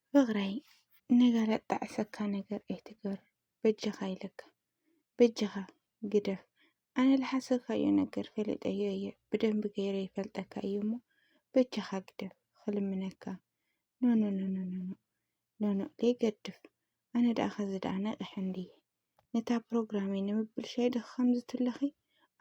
ፍቕረይ ንገለ ጣዕሰካ ነገር ኣይትገር በጃኻ ኢለካ በጃኻ ግደፍ ኣነ ልሓሰካዮ ነገር ፈለጠዮ እየ ብደንቢ ገይረ ይፈልጠካ እዩ እሞ በጃኻ ግደፍ ክልምነካ ኖኖኖኖኖኖ ኖኖ ዘይገድፍ ኣነ ደኣ ከዚ ደኣ ነቒሐ እንድየ ነታ ፕሮግራመይ ንምብልሻይ ዶ ከምዚ ትብለኺ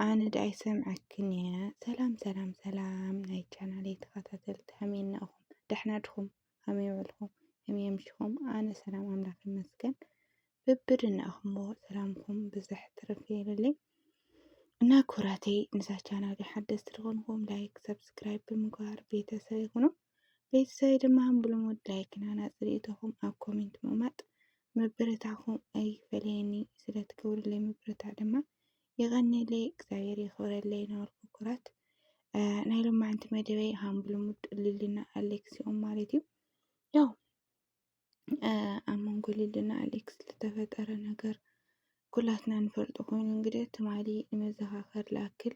ኣነ ደኣ ይሰምዐክን እየ ሰላም ሰላም ሰላም ናይ ቻናለይ ተኸታተልቲ ከመይ እናኹም ደሕና ድኹም ከመይ ውዕልኩም ከመይ ኣምሽኹም ኣነ ሰላም ኣምላኽ ይመስገን ብብድናኹምዎ ሰላምኩም ብዝሕ ትርፍ ይበለለይ እና ኩራተይ ንዛ ቻናል ሓደስቲ ዝኾንኩም ላይክ ሰብስክራይብ ብምግባር ቤተሰብ ይኹኑ ቤተሰበይ ድማ ብልሙድ ላይክ ናና ፅሪኢቶኹም ኣብ ኮሜንት ምቕማጥ ምብርታዕኹም ኣይፈለየኒ ስለትገብርለይ ምብርታዕ ድማ የቐንየለይ እግዚኣብሔር የኽብረለይ ነበርኩ ኩራት ናይ ሎማዕንቲ መደበይ ሃም ብልሙድ ልልና ኣሌክሲኦም ማለት እዩ ያው ኣብ መንጎ ሊሊን ኣሌክስ ዝተፈጠረ ነገር ኩላትና ንፈልጦ ኮይኑ እንግዲህ ትማሊ ንመዘኻኸሪ ላክል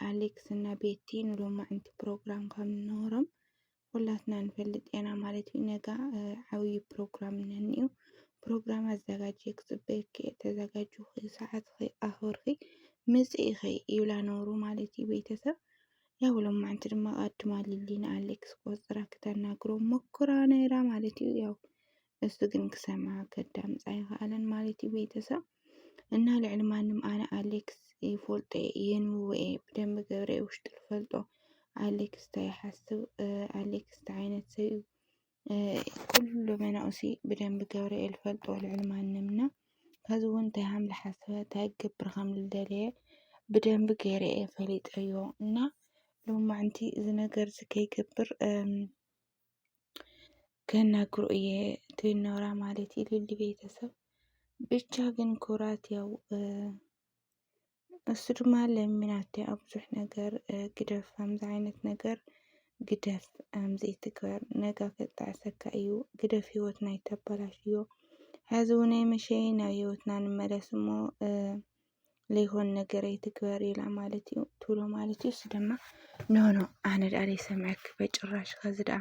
ኣሌክስ እና ቤቲ ንሎማዕንቲ ፕሮግራም ከም ዝነበሮም ኩላትና ንፈልጥ ኢና ማለት እዩ። ነጋ ዓብዪ ፕሮግራም ነኒኡ ፕሮግራም ኣዘጋጅ ክፅበየኪ እየ ተዘጋጅኺ ሰዓትኺ ኣኽብርኺ ምፅኢኺ ይብላ ነብሩ ማለት እዩ ቤተሰብ ያው ሎማዕንቲ ድማ ኣድማ ሊሊን ኣሌክስ ቆፅራ ክተናግሮ ሞክራ ነይራ ማለት እዩ። ያው እሱ ግን ክሰማ ከዳምፃ ይኸኣለን ማለት እዩ። ቤተሰብ እና ልዕሊ ማንም ኣነ ኣሌክስ ይፈልጦ የንብቦ እየ ብደንብ ገብረ ውሽጡ ልፈልጦ ኣሌክስ እንታይ ይሓስብ ኣሌክስ እንታይ ዓይነት ሰብ እዩ ኩሉ መናእሲ ብደንቢ ገብርኤል ይፈልጦ ልዕሊ ማንም እና ከዚ እውን እንታይ ከም ዝሓስበ እንታይ ክገብር ከም ዝደለየ ብደንቢ ገይረ እየ ፈሊጠዮ እና ሎማዕንቲ እዚ ነገር እዚ ከይገብር ከናግሮ እየ ትብል ነብራ ማለት እዩ ልሊ ቤተሰብ ብቻ ግን ኩራት ያው እሱ ድማ ለሚናቶ ኣብ ብዙሕ ነገር ግደፍ ከምዚ ዓይነት ነገር ግደፍ ዘይትግበር ነጋ ከጣዕሰካ እዩ ግደፍ ህይወት ናይ ተባላሽ እዮ ሕዚ እውን መሸይ ናብ ህይወትና ንመለስ እሞ ለይኮን ነገር ኣይትግበር ኢላ ማለት እዩ ትብሎ ማለት እዩ እሱ ድማ ኖኖ ኣነ ደኣ ዘይሰምዐኪ በጭራሽ ከዚ ደኣ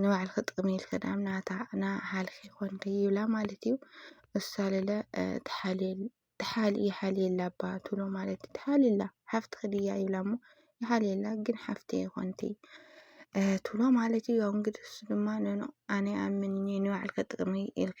ንባዕልኺ ጥቕሚ ኢልኪ ደኣ ናታ ንዓኻልኪ ይኾንኪ ይብላ ማለት እዩ። እሳ ለለ ይሓልየላ እባ ትብሎ ማለት እዩ። ትሓልየላ ሓፍትኺ ድያ ይብላ እሞ ይሓልየላ ግን ሓፍተይ ይኾንኪ ትብሎ ማለት እዩ። ያው እንግዲህ እሱ ድማ ኖኖ ኣነ ኣምንኒ ንባዕልኪ ጥቕሚ ኢልኪ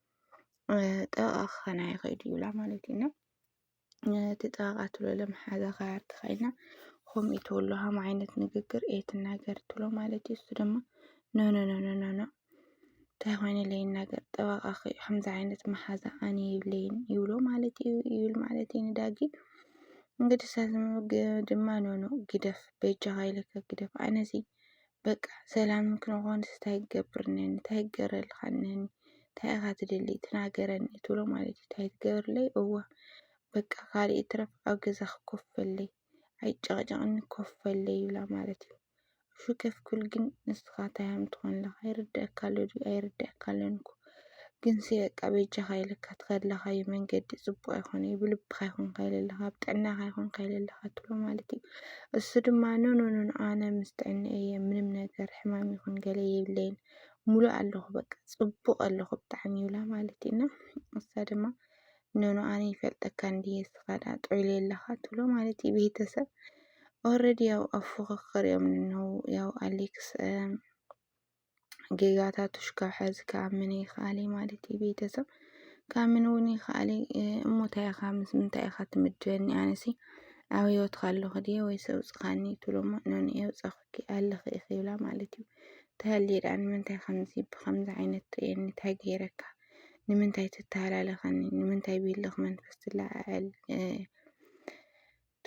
ጠበቓ ክኸና ይኽእል እዩ ይብላ ማለት እዩ እና እቲ ጠበቓ ትብሎ ለመሓዛ ካርድ ኮይና ከምኡ ትብሎ ሃም ዓይነት ንግግር እየ ትናገር ትብሎ ማለት እዩ። እሱ ድማ ኖኖኖኖኖኖ እንታይ ኮይኑ ለይናገር ጠበቓ ከምዚ ዓይነት መሓዛ ኣነ የብለይን ይብሎ ማለት እዩ ይብል ማለት እዩ ንዳጊ እንግዲህ ሳዝም ድማ ኖኖ ግደፍ በጃኻ ኢለካ ግደፍ ኣነዚ በቃ ሰላም ክንኾንስ እንታይ ክገብርኒ እንታይ ክገረልካ እኒሀኒ እንታይ ኢኻ ትደሊ ትናገረኒ ትብሎ ማለት እዩ እንታይ ትገብርለይ እዋ በቃ ካልእ ይትረፍ ኣብ ገዛኺ ኮፍ በለይ ኣይጨቕጨቕኒ ኮፍ በለይ ይብላ ማለት እዩ እሹ ከፍ ክብል ግን ንስኻ እንታይ ሃም ትኾንለኻ ይርድኣካ ኣሎ ድዩ ኣይርድኣካ ኣሎን እኮ ግንሲ በቃ በጃኻ ኢለካ ትኸድለኻዩ መንገዲ ፅቡቅ ኣይኮነ እዩ ብልብኻ ይኹን ካይለ ኣለኻ ኣብ ጥዕናኻ ይኹን ካይለ ኣለኻ ትብሎ ማለት እዩ እሱ ድማ ኖኖኖኖ ኣነ ምስ ጥዕና እየ ምንም ነገር ሕማም ይኹን ገለ የብለይን ሙሉእ ኣለኹ በቃ ፅቡቅ ኣለኹ ብጣዕሚ ይብላ ማለት እዩ እና እሳ ድማ ኖኖ ኣነ ይፈልጠካ እንድየ ስኻዳ ጥዑል የለኻ ትብሎ ማለት እዩ ቤተሰብ ኦረዲ ያው ኣብ ፉክክር እዮም ንነው ያው ኣሌክስ ጌጋታቱሽ ካብ ሐዚ ክኣምን ይክኣል እዩ ማለት እዩ ቤተሰብ ክኣምን እውን ይክኣል እሞ እንታይ ኢኻ ምስ ምንታይ ኢኻ ትምድበኒ ኣነሲ ኣብ ሂወትካ ኣለኹ ድየ ወይስ ኣውፅኻኒ ትብሎ እሞ ኖኖኤ ኣውፃኹኪ ኣለኺ ኢኺ ይብላ ማለት እዩ ተሃልየ ደኣ ንምንታይ ከምዚ ብከምዚ ዓይነት ትርእየኒ እንታይ ገይረካ ንምንታይ ትተሃላለኸኒ ንምንታይ ብህልኽ መንፈስ ትለዓዓል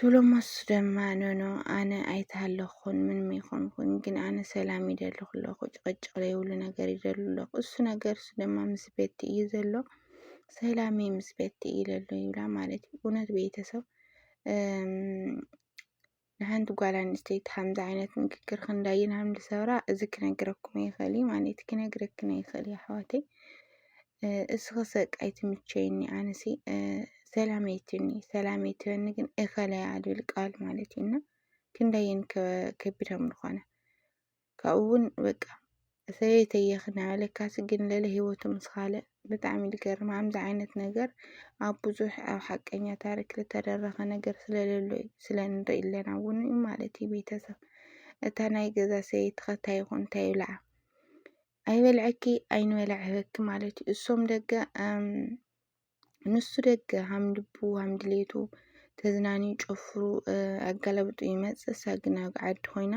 ቶሎሞስ ደማ ኖኖ ኣነ ኣይተሃለኹኹን ምንም ኣይኮንኩን ግን ኣነ ሰላም ይደሊ ኩለኹ ጭቕጭቕ ለይብሉ ነገር ይደሉ ኣለኹ እሱ ነገር እሱ ደማ ምስ ቤቲ እዩ ዘሎ ሰላሜ ምስ ቤቲ እዩ ለሎ ይብላ ማለት እዩ እውነት ቤተሰብ ንሓንቲ ጓል ኣንስተይቲ ከምዚ ዓይነት ንግግር ክንዳይን ሃምዲ ሰብራ እዚ ክነግረኩም ይኽእል እዩ ማለት ክነግረክን ይኽእል እዩ ኣሕዋተይ እስኽሰ ቃይ ትምቸይኒ ኣነሲ ሰላመይ ትኒ ሰላመይ ትበኒ ግን እኸለያ ዝብል ቃል ማለት እዩ እና ክንደይን ከቢድ ከምዝኾነ ካብኡ እውን በቃ ሰበይተየ ክናበለካሲ ግን ለለ ሂወቱ ምስ ካልእ ብጣዕሚ ዝገርም ከምዚ ዓይነት ነገር ኣብ ብዙሕ ኣብ ሓቀኛ ታሪክ ዝተደረኸ ነገር ስለለሎ እዩ ስለንርኢ ኣለና እውን ማለት እዩ ቤተሰብ እታ ናይ ገዛ ሰበይትኸ እንታይ ይኹን እንታይ ይብልዓ ኣይበልዐኪ ኣይንበልዐኪ ማለት እዩ። እሶም ደገ ንሱ ደገ ሃም ልቡ ሃም ድሌቱ ተዝናንዩ ጨፍሩ ኣጋላብጡ ይመጽእ። እሳ ግን ኣብ ዓዲ ኮይና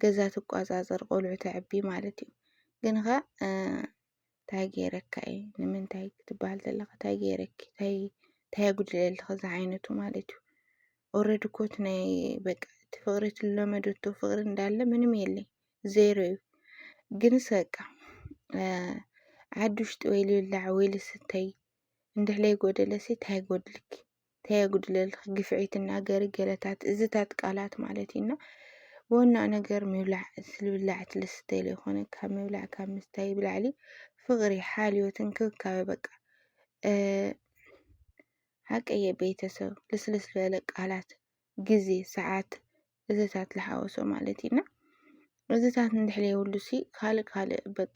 ገዛ ትቋጻጸር ቆልዑ ተዕቢ ማለት እዩ። ግን ኸ እንታይ ገይረካ እዩ ንምንታይ ክትበሃል ዘለካ እንታይ ገይረኪ እንታይ እንታይ ኣጉድለልኺ ዝዓይነቱ ማለት እዩ ኦረዲ ኮት ናይ በቃ እቲ ፍቅሪ ትለመደቶ ፍቅሪ እንዳለ ምንም የለይ ዜሮ እዩ ግንስ በቃ ዓዲ ውሽጢ ወይ ልብላዕ ወይ ልስተይ እንድሕለይ ጎደለሲ እንታይ ጎድልኪ እንታይ የጉድለልኪ ግፍዒ ትናገሪ ገለታት እዝታት ቃላት ማለት እዩና ዋና ነገር ምብላዕ ልብላዕ ትልስተይ ለይኮነ ካብ ምብላዕ ካብ ምስታይ ብላዕሊ ፍቅሪ ሓልዮት እንክብካበ በቃ ሓቀየ ቤተሰብ ልስልስ ዝበለ ቃላት ግዜ ሰዓት እዚታት ልሓወሶ ማለት እዩ እና እዚታት እንድሕር የብሉ ሲ ካልእ ካልእ በቃ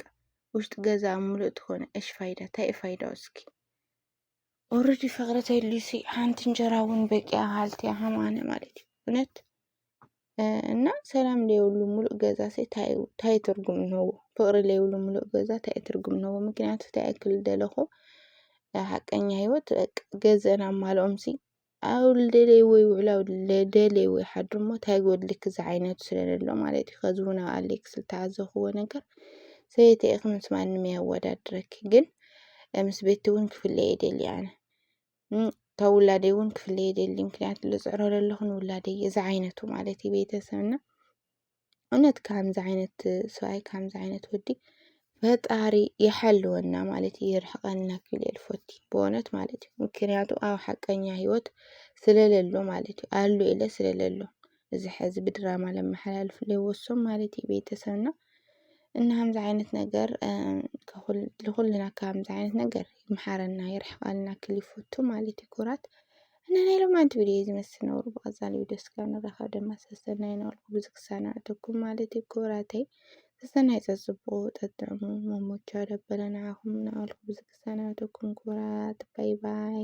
ውሽጢ ገዛ ምሉእ ትኾነ እሽ ፋይዳ እንታይ እዩ ፋይዳው እስኪ ኦረዲ ፍቅሪ ተልዩሲ ሓንቲ እንጀራ እውን በቂያ ሃልቲ ሃማነ ማለት እዩ እውነት እና ሰላም ለይብሉ ሙሉእ ገዛ ሲ እንታይ እዩ- እንታይ እዩ ትርጉም እንሆዎ ፍቅሪ ለይብሉ ሙሉእ ገዛ እንታይ እዩ ትርጉም እንሆዎ ምክንያቱ እንታይ ያክል ደለኹ ሓቀኛ ህይወት በቃ ገዝአን ኣማልኦም ሲ ኣውል ደለይ ወይ ውዕል ኣውል ደለይ ወይ ሓድር እሞ እንታይ ጎድልኪ ዝዓይነቱ ስለለሎ ማለት እዩ። ከዚ እውን ኣብ ኣሌክስ ዝተዓዘኽዎ ነገር ሰበይቲ ኢኺ ምስ ማንም የወዳድረኪ ግን ምስ ቤቲ እውን ክፍለ የደሊ ኣነ ካብ ውላደይ እውን ክፍለ የደሊ ምክንያቱ ልፅዕሮ ለለኹ ንውላደይ እዚ ዓይነቱ ማለት እዩ ቤተሰብና እውነት ከምዚ ዓይነት ሰብኣይ ከምዚ ዓይነት ወዲ ፈጣሪ ይሓልወና ማለት እዩ ይርሕቀና ክብል እየ ልፎቲ ብእውነት ማለት እዩ ምክንያቱ ኣብ ሓቀኛ ህይወት ስለለሎ ማለት እዩ ኣሉ ኢለ ስለለሎ እዚ ሕዚ ብድራማ ለመሓላልፍ ለወሶም ማለት እዩ ቤተሰብና እና ከምዚ ዓይነት ነገር ንኩልና ከምዚ ዓይነት ነገር ይምሓረና ይርሕቀልና ክል ይፈቱ ማለት እዩ ኩራት እና ናይ ሎማንቲ ቪድዮ እዩ ዝመስል ነበሩ ብቐፃሊ ቪድዮ ስጋብ ንራኸብ ድማ ሰሰናይ ነበልኩ ብዙ ክሳናዕተኩም ማለት እዩ ክብራተይ ሰሰናይ ፀፅቡቑ ጠጥዕሙ መሞቻ ደበለ ንዓኹም እናበልኩ ብዙ ክሳናዕተኩም ክብራት ባይ ባይ